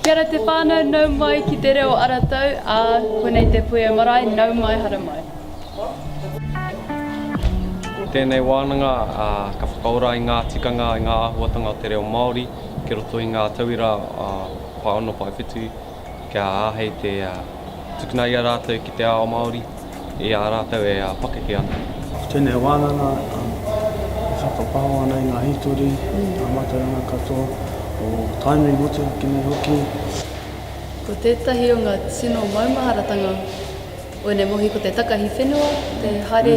Kia ora te whānau, nau mai ki te reo ara tau, ā, konei te puea marae, nau mai hara mai. Ko tēnei wānanga ka whakaora i ngā tikanga, i ngā āhuatanga o te reo Māori ki roto i ngā tauira pae ono, pae whitu. kia āhei te tukuna i a rātou ki te ao Māori i a rātou e pakeke ana. Ko tēnei wānanga e whakapāho ana i ngā hītori, ngā mātauranga katoa o Tainui motuhake nei hoki. Ko tētahi o ngā tino maumaharatanga o ēnei mohi ko te takahi whenua, te haere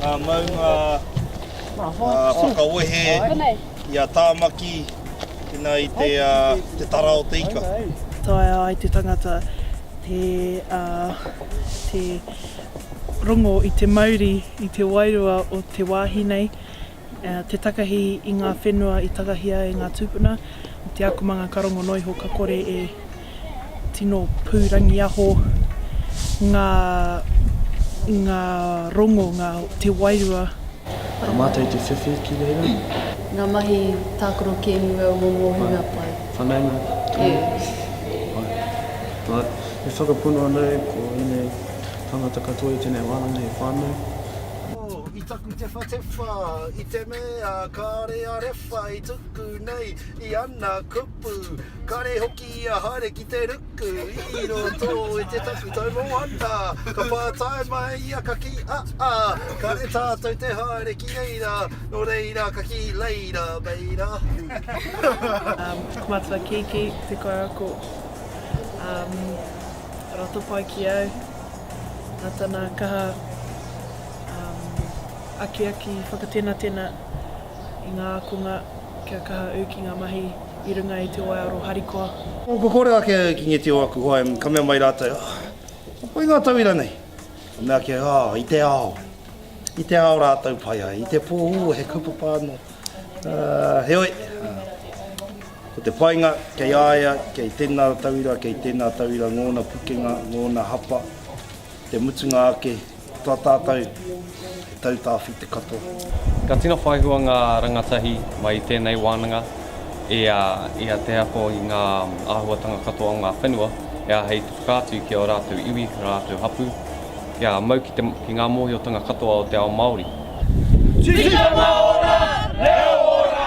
ngā maunga whakawehe i a Tāmaki ina i te tara o te ika. Taea ai te tangata te rongo i te mauri, i te wairua o te wāhi nei. Te takahi i ngā whenua i takahia e ngā tūpuna i te akomanga karongo noa iho ka kore e tino pūrangiaho ngā ngā rongo, ngā te wairua. Nā mātou i te whiwhi ki reira. Ngā mahi tākaro kēmu au mō ngō hunga pai. Whanaunga tonu. Pai. E whakapono ana au ko ēnei tāngata katoa i tēnei wānanga he whānau. Taku tewhatewha i te mea kāre a rewha i tuku nei i ana kupu. Kāre hoki i a haere ki te ruku i roto i te taku taumoana. Ka pātai mai ia ka kī, a a, kāre tātou te haere ki reira, nō reira ka kī reira, reira. Ko Matua Kiki te kaiako rato pai ki au, nā tana kaha. akiaki whakatenatena i ngā ākonga kia kaha au ki ngā mahi i runga i te waiaro harikoa. Kua kore ake au ki ngeti o aku hoa, ka mea mai rātou, Ah, ka pai ngā tauira nei. Ka mea ake au, Ah, i te ao. I te ao rātou pai ai, i te pō, ū, he kaupapa anō. Heoi, ko te painga, kei a ia, kei tēnā tauira, kei tēnā tauira, ngōna pukenga, ngōna hapa, te mutunga ake, Tā tātou tautāwhi te katoa. Ka tino whai hua ngā rangatahi mai i tēnei wānanga i a te ako i ngā āhuatanga katoa o ngā whenua e āhei te whakaatu ki ō rātou iwi, ō rātou hapū, kia mau ki ngā mōhiotanga katoa o te ao Māori. Tikanga ora, reo ora!